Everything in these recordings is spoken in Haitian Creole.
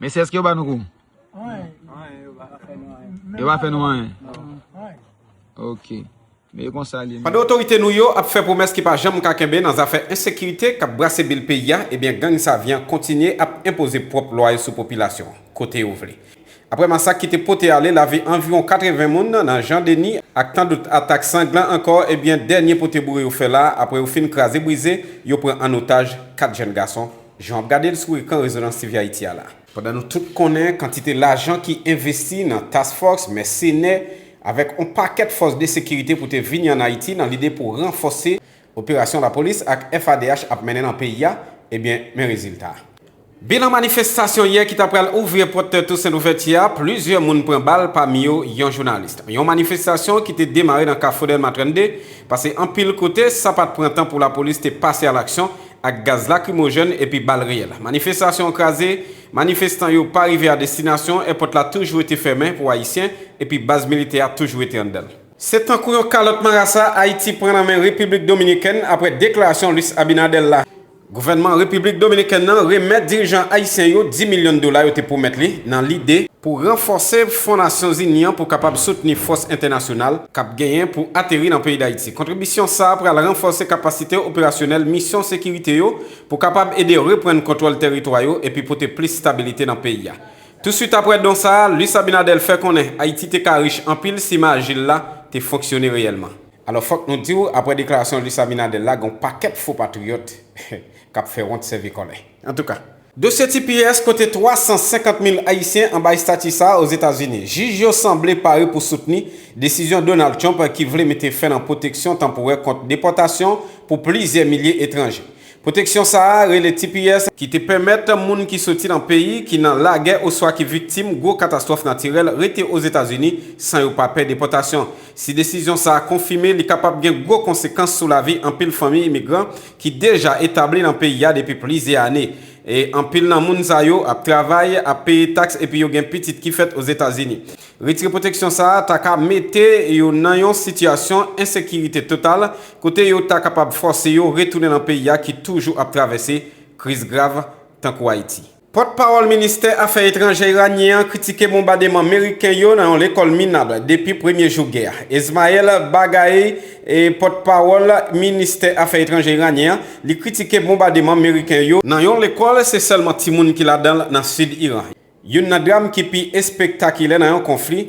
Mesye eske yo ba nou kou? Anyen yo pa fè nou anyen. Yo pa fè nou anyen? Ok. Men e konsa li ye. Pandan otorite nou yo ap fè pwomès ki pa janm ka kenbe nan zafè ensekirite k ap brase bil peyi a, ebyen gang Savyen kontinye ap enpoze pwòp lwa yo sou popilasyon an, kote yo vle. Aprè masak ki te pote ale lavi anviwon 80 moun nan Jan Deni ak tandout atak sanglan ankò, ebyen dènye pote boure yo fè la a aprè yo fin kraze brize, yo pran an otaj 4 jèn gason. Jan wap gade l sou ekran Rezonans TV Ayiti a la. Pandan nou tout konnen kantite lajan ki envesti nan Task Force, mèsenè, avèk yon pakèt fòs de sekirite pou te vini an Ayiti nan lide pou ranfòse operasyon lapolis ak FADH ap mennen nan peyi a, ebyen men rezilta a. Bilan manifestasyon yè ki ta pral ouvri pòt Toussaint Louverture a, plizyè moun pran bal pami yo yon jounalis. Yon manifestasyon ki te demare nan kafou Dèlma 32, pase anpil kote, sa pat pran tan pou lapolis te pase alaksyon ak gaz lakrimojèn epi bal reyèl. Manifestasyon an kraze, manifestan yo pa rive a destinasyon, èpòt la toujou rete fèmen pou Ayisyen epi baz militè a toujou rete anndan l. Se tankou yon kalòt marasa Ayiti pran nan men Repiblik Dominikèn aprè deklarasyon Luis Abinader la. Gouvènman Repiblik Dominikèn nan remèt dirijan ayisyen yo 10 milyon dola yo te pwomèt li nan lide pou ranfòse Fon Nasyonzini an pou kapab soutni fòs entènasyonal k ap genyen pou ateri nan peyi Dayiti. Kontribisyon sa a pral ranfòse kapasite operasyonèl misyon sekirite yo pou kapab ede reprann kontwòl tèritwa yo epi pote plis stabilite nan peyi a. Touswit apre don sa a, Luis Abinader fè konnen Ayiti te ka rich anpil si Maajil la te fonksyone reyèlman. Alò fòk nou di w, apre deklarasyon Luis Abinader la gen yon pakèt fo patriyòt k ap fè wont sèvi kòlè. Antouka, Dosye tps kote 350 mil Ayisyen anba estati sa a Ozetazini. Jij yo sanble pare pou soutni desizyon Donald Trump ki vle mete fen nan pwoteksyon tanporè kont depòtasyon pou plizyè milye etranje. Pwoteksyon sa a rele tps, ki te pèmèt moun ki soti nan peyi ki nan lagè oswa ki viktim gwo katastwòf natirèl rete Ozetazini san yo pa pè depòtasyon. Si desizyon sa a konfime, li kapab gen gwo konsekans sou lavi anpil fanmi imigran ki deja etabli nan peyi a depi plizyè ane. E anpil nan moun sa yo ap travay, ap peye taks epi yo gen pitit ki fèt Ozetazini. Retire pwoteksyon sa a ta ka mete yo nan yon sitiyasyon ensekirite total kote yo ta kapab fòse yo retounen nan peyi a ki toujou ap travèse kriz grav tankou Ayiti. Pòt pawòl ministè afè etranjè iranyen an kritike bonbademan meriken yo nan yon lekòl minab depi premye jou gè a. Esmaeil Baghaei, pòt pawòl ministè afè etranjè iranyen an, li kritike bonbademan meriken yo, nan yon lekòl se sèlman timoun ki ladan l nan sid Iran, youn nan dram ki pi espektakilè nan yon konfli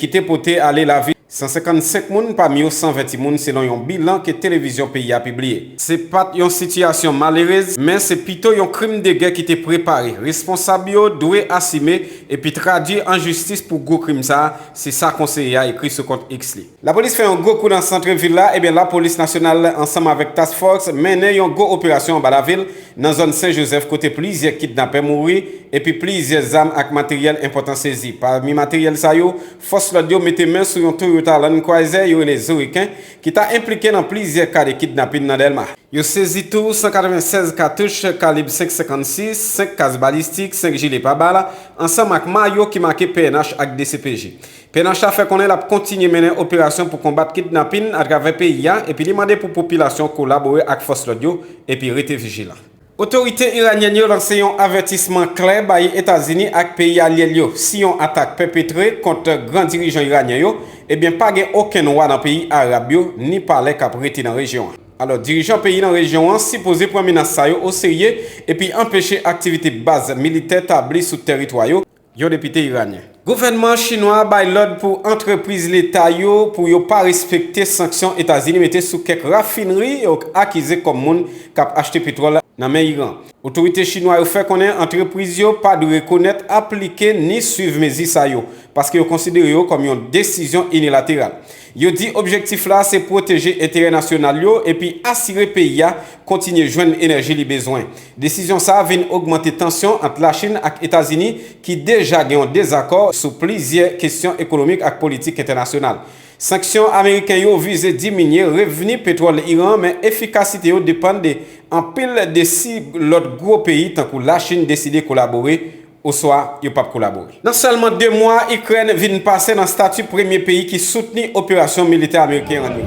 ki te pote ale lavi. 155 moun pami yo san vè timoun selon yon bilan ke televizyon peyi a pibliye. Se pat yon sitiyasyon malerez, men se pito yon krim de gè ki te prepare. Responsab yo dwe asime epi tradui an jistis pou gwo krim sa, se sa konseye a ekri sou kont X li. Lapolis fè yon gwo kou nan santre vil la, ebyen lapolis nasyonal ansanm avèk Task Force mennen yon gwo operasyon anba lavil nan zòn Sen Jozèf kote plizyè kidnapè mouri epi plizyè zam ak materyèl enpòtan sezi. Pami materyèl sa yo, Fòs lòd yo mete men sou yon Toyota Land Cruiser yo rele Zuriken ki ta enplike nan plizyè ka de kidnapin nan Dèlma. Yo sezi tou 196 katouch kalib 5,56, 5 kas balistik, 5 jile pabal, ansanm ak mayo ki make pnh ak dcpj. Pnh la fè konnen l ap kontinye mennen operasyon pou konbat kidnapin atravè peyi a epi li mande pou popilasyon kolabore ak fòs lòd yo epi rete vijilan. Otorite iranyèn yo lanse yon avètisman klè bay Etazini ak peyi alye l yo, si yon atak pèpetre kont gran dirijan iranyen yo, ebyen pa gen okenn wa nan peyi arab yo ni palè k ap rete nan rejyon an. Alò, dirijan peyi nan rejyon an sipoze pran menas sa yo oserye epi anpeche aktivite baz militè tabli sou tèritwa yo, yon depite iranyen. Gouvènman chinwa a bay lòd pou antrepriz leta yo pou yo pa respekte sanksyon Etazini mete sou kèk rafinri yo akize kòm moun k ap achte petwòl nan men Iran. Otorite chinwa yo fè konnen antrepriz yo pa dwe rekonèt, aplike ni swiv mezi sa yo, paske yo konsidere yo kòm yon desizyon inilateral. Yo di objektif la se pwoteje enterè nasyonal yo epi asire peyi a kontinye jwenn enèji li bezwen. Desizyon sa a vin ogmante tansyon ant Lachin ak Etazini ki deja gen yon dezakò sou plizyè kesyon ekonomik ak politik entènasyonal. Sanksyon ameriken yo vize diminye revni petwòl Iran men efikasite yo depann de anpil de si lòt gwo peyi tankou Lachin deside kolabore oswa yo pap kolabore. Nan sèlman 2 mwa, Ikrèn vin pase nan stati premye peyi ki soutni operasyon militè ameriken an yo.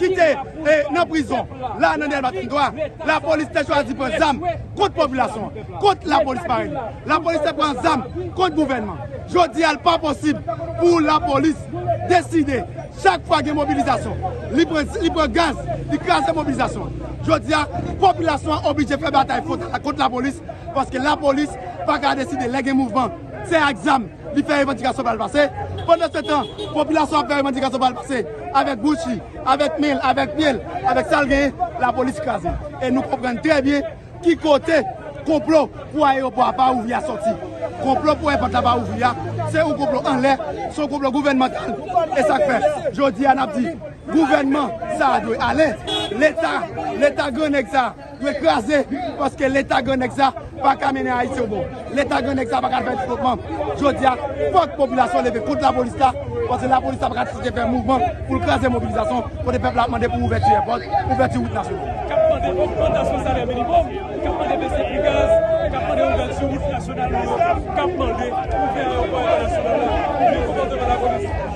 ki te nan prizon la nan Delma 33, lapolis te chwazi pran zam kont popilasyon an, kont lapolis parèy li. Lapolis te pran zam kont gouvènman. Jodi a li pa posib pou lapolis deside chak fwa gen mobilizasyon li pran gaz, li kraze mobilizasyon an. Jodi a popilasyon an oblije fè batay fwontal la kont lapolis paske lapolis pa ka deside lè gen mouvman se ak zam. Li fè revandikasyon pa l pase. Pandansetan, popilasyon an ap fè revandikasyon pa l pase avèk bouch li, avèk men l, avèk pye l, avèk sa l genyen, lapolis kraze. E nou konprann trè byen ki kote konplo pou ayewopò a pa ouvri a sòti. Konplo pou èpòt la pa ouvri a, se yon konplo anlè, se yon konplo gouvènmantal. E sa k fè, jodi a n ap di, gouvènman sa a dwe ale. Leta, leta gran nèg sa a. Dwe kraze paske leta gran nèg sa paka mennen ayiti yon bon leta gran nèg sa paka fè devlopman jodia fòk popilasyon leve kont lapolis la paske lapolis la paka site fè mouvman poul kraze mobilizasyon kote pèp la ap mande pou ouvèti èpòt ouvèti wout nasyonal kap mande ogmantasyon salè minimòm kap mande bese pri gaz kap mande ouvèti wout nasyonal kap mande ouvè ayopò entènasyonal la ouvè komandman lapolis.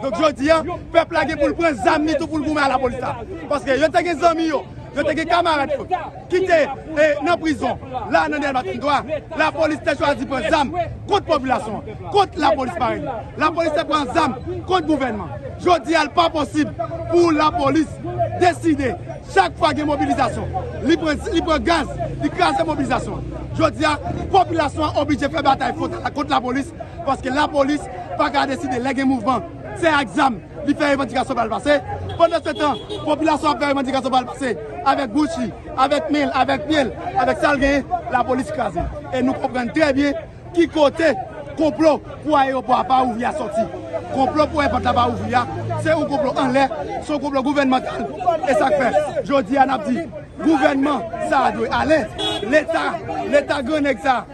Donk jodi a, pèp la gen pou l pran zam li tou pou l goumen a lapolis la. Paske yo te gen zanmi yo, yo te gen kamarad yo ki te nan prizon la nan Dèlma 33, lapolis te chwazi pran zam kont popilasyon an, kont lapolis parèy li. Lapolis te pran zam kont gouvènman. Jodi a l pa posib pou lapolis deside chak fwa gen mobilizasyon, li pran gaz, li kraze mobilizasyon an. Jodi a, popilasyon an oblije fè batay fwontal la kont lapolis, paske lapolis pa ka deside lè gen mouvman, se ak zam li fè revandikasyon pa l pase. Pandansetan, popilasyon ap fè revandikasyon pa l pase avèk bouch li, avèk men l, avèk pye l, avèk sa l genyen, lapolis kraze. E nou konprann trè byen ki kote konplo pou ayewopò a pa ouvri a sòti. Konplo pou èpòt la pa ouvri a, se yon konplo anlè, se yon konplo gouvènmantal. E sa k fè, jodi a n ap di, gouvènman sa a dwe ale, Leta, Leta gran nèg sa a,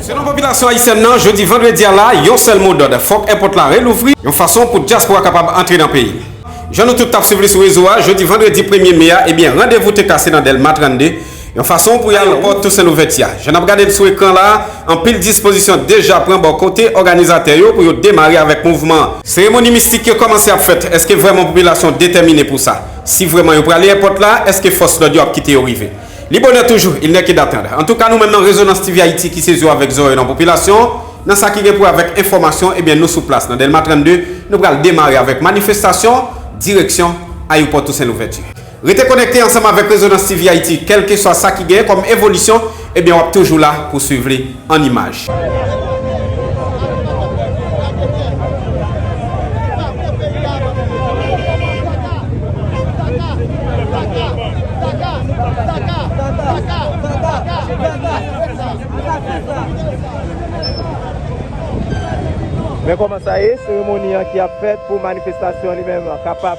Selon popilasyon ayisyèn nan, jodi vandredi a la, yon sèl mo dòd, fòk èpòt la relouvri, yon fason pou dyaspora kapab antre nan peyi. Jan nou tout t ap swiv li sou rezo a, jodi vandredi premye me a, ebyen randevou te kase nan Dèlma 32, yon fason pou ayewopò Tousen Louvèti a. Jan n ap gade l sou ekran la a, anpil dispozisyon deja pran bò kote òganizatè yo pou yo demare avèk mouvman an. Seremoni mistik yo kòmanse ap fèt, èske vrèman popilasyon detèmine pou sa? Si vrèman yo prale èpòt la, èske fòs lòd yo ap kite yo rive? Li bonè toujou, il n'est que d'attendre. Antouka nou menm nan Rezonans TV Ayiti ki se zo avèk zòrèy nan popilasyon an, nan sa ki gen pou wè avèk enfòmasyon, ebyen nou sou plas nan Dèlma 32, nou pral demare avèk manifestasyon, direksyon Ayopò Tousen Louvèti. Rete konekte ansanm avèk Rezonans TV Ayiti, kèlkeswa sa ki gen kòm evolisyon Ebyen wap toujou la pou swiv li an imaj. Men kòman sa ye, seremoni an ki ap fèt pou manifestasyon li menm kapab.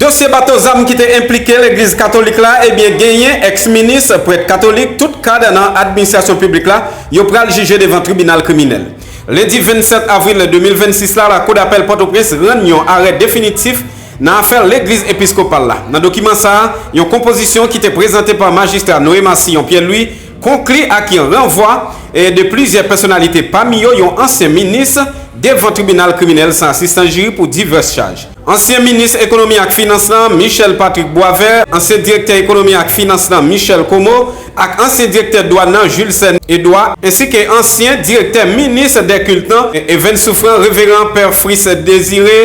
Dosye bato zam ki te enplike legliz katolik la ebyen genyen ex minis, prèt katolik, tout kad nan administrasyon piblik la, yo pral jije devan tribinal kriminèl. Lendi 27 avril 2026 la lakou dapèl Pòtoprens rann yon arè definitif nan afè legliz episkopal la. Nan dokiman sa a, yon konpozisyon ki te prezante pa majistra Noé Massillon Pierre-Louis, konkli ak yon ranvwa de plizyè pèsonalite pami yo yon ansyen minis devan tribinal kriminèl san asistans jiri pou divès chaj. Ansyen minis ekonomi ak finans lan, Michel Patrick Boisvert, ansyen direktè ekonomi ak finans lan, Michel Comeau, ak ansyen direktè dwàn nan, Julcène Edouard, ensi ke ansyen direktè minis dè kilt lan, Evens Souffrant, Reveran Pè Fritz Désiré,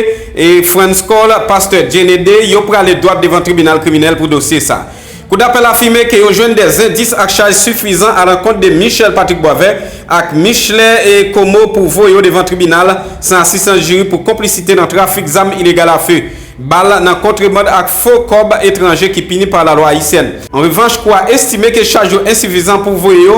Frantz Cole, Pastè Djenede, yo prale dwat devan tribinal kriminèl pou dosye sa. Kou dapèl afime ke yo jwenn des endis ak chaj sifizan a lankont de Michel Patrick Boisvert ak Michelet Comeau pou voye yo devan tribinal san asistans jiri pou konplisite nan trafik zam ilegal a feu bal nan kontreband ak fo kòb etranje ki pini par la loi haïtienne. An revanch, kou a estime ke chaj yo ensifizan pou voye yo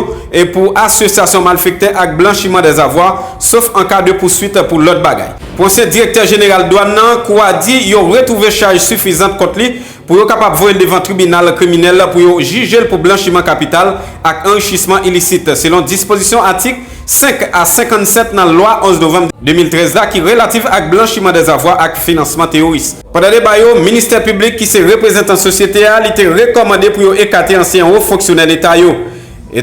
pou asosyasyon malfektè ak blanchiman des avoirs, sof an ka de pouswit pou lòt bagay. Pou ansyen direktè jeneral dwann nan, kou a di yo retwouve chaj sifizant kont li pou yo kapab voye l devan tribinal kriminèl pou yo jije l pou blanchiman kapital ak anrichisman ilisit, selon dispozisyon atik 5 a 57 nan lwa 11 novanm 2013 la ki relatif ak blanchiman dèzavwa ak finansman teyoris. Pandan deba yo, Ministè Piblik, ki se reprezantan sosyete a, li te rekòmande pou yo ekate ansyen wo fonksyonè Leta yo.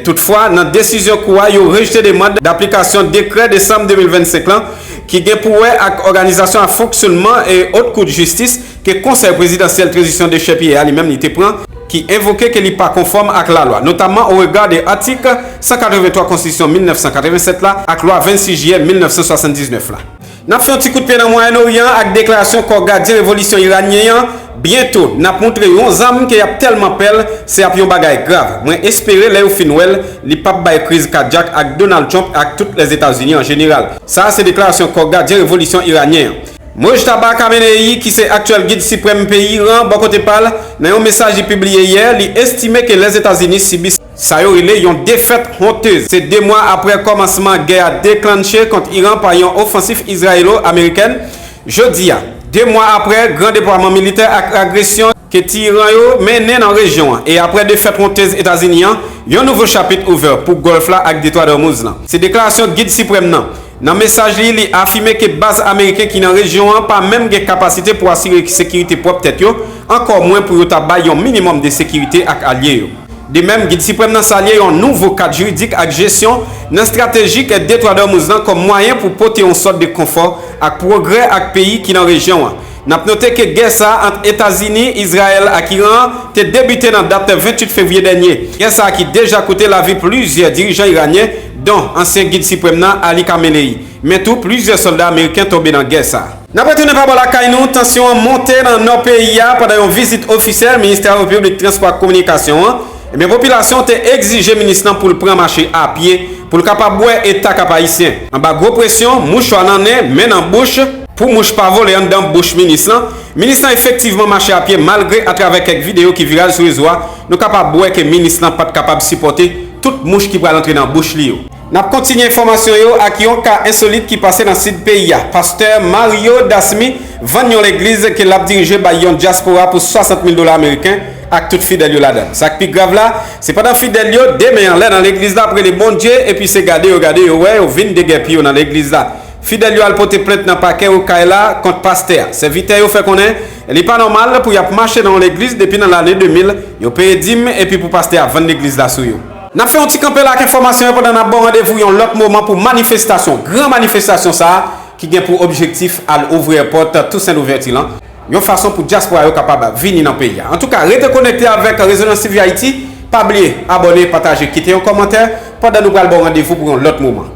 Toutfwa, nan desizyon Kou a, yo rejte demand daplikasyon dekrè desanm 2025 lan ki gen pou wè ak òganizasyon ak fonksyonman Haute Cour de Justice, ke Konsèy Prezidansyèl Trezisyon Dechèpiye a li menm li te pran, ki envoke ke li pa konfòm ak lalwa, notamman o rega de atik 183 Konstitisyon 1987 la ak lwa 26 jiyè 1979 la. N ap fè yon ti kout pye nan Mwayen Oryan an ak deklarasyon Kò Gadyen Revolisyon Iranyen an, Byento, n ap moutre yo yon zam ke y ap tèlman pè l, se ap yon bagay grav. Mwen espere lè yo fin wè l, li p ap bay kriz kadyak ak Donald Trump e ak tout Lèzetazini an jeneral. Sa a se deklarasyon Kò Gadyen Revolisyon Iranyen an. Mojtaba Khamenei, ki se aktyèl gid siprèm peyi Iran, bò kote pa l, nan yon mesaj li pibliye yè, li estime ke Lèzetazini sibi, sa yo rele yon defèt honteuse, se 2 mwa aprè kòmansman gè a deklannche kont Iran pa yon ofansif izrayelo-amerikèn, jodi a, 2 mwa aprè gran depwaman militè ak agresyon. ke ti Iran yo mennen nan rejyon an e aprè defèt wontez Etazini an, yon nouvo chapit ouvè pou Gòlf la ak Detwa Dòmouz lan. Se deklarasyon Gid Siprèm nan. Nan mesaj li, li afime ke baz ameriken ki nan rejyon an pa menm gen kapasite pou asire sekirite pwòp tèt yo, ankò mwen pou yo ta bay yon minimòm de sekirite ak alye yo. De mèm, Gid Siprèm nan salye yon nouvo kad jiridik ak jesyon nan estratejik Detwa Dòmouz lan kòm mwayen pou pote yon sòt de konfò ak pwogrè ak peyi ki nan rejyon an. N ap note ke gè sa a ant Etazini, Izrayèl ak Iran an te debite nan dat 28 fevriye dènye. Gè sa a ki deja koute lavi plizyè dirijan iranyen, don ansyen gid siprèm nan Ali Khamenei. Men tou, plizyè sòlda ameriken tonbe nan gè sa a. N ap retounen pa bò lakay nou, tansyon an monte nan nò peyi a pandan yon vizit ofisyèl Ministè Repiblik Transpò ak Kominikasyon an, Ebyen popilasyon te egzije minis lan pou l pran mache a pye pou l kapab bwè eta Kap Ayisyen. Anba gwo presyon, mouchwa nan nen, men nan bouch, pou mouch pa vole anndan bouch minis lan, minis lan efektivman mache a pye malgre atravè kèk videyo ki viral sou rezo a nou kapab wè ke minis lan pat kapab sipòte tout mouch ki pral antre nan bouch li yo. Nap kontinye enfòmasyon yo ak yon ka ensolit ki pase nan sid peyi a. Pastè Mario Dasmy vann yon legliz ke lap dirije bay yon dyaspora pou 60 mil dola ameriken ak tout fidèl yo ladann. Sak pi grav la, se pandan fidèl yo, 2 men anlè nan legliz la ap rele Bondye epi se gade yo gade yo wè yo vin degèpi yo nan legliz la. Fidèl yo al pote plent nan pakè Okay la kont pastè a. Sèvitè yo fè konnen li pa nòmal pou yap mache nan yon legliz depi nan lane 2000, yo peye dim epi pou pastè a vann legliz la sou yo. N ap fè yon ti kanpe la ak enfòmasyon yo pandan n ap ba w randevou yon lòt moman pou manifestasyon, gran manifestasyon sa ki gen pou objektif al ouvri èpòt Tousen Louvèti lan yon fason pou dyaspora yo kapab vini nan peyi a. Antouka, rete konekte avèk Rezonans TV Ayiti, pa bliye abòne, pataje, kite yon kòmantè pandan nou pral ba w randevou pou yon lòt moman.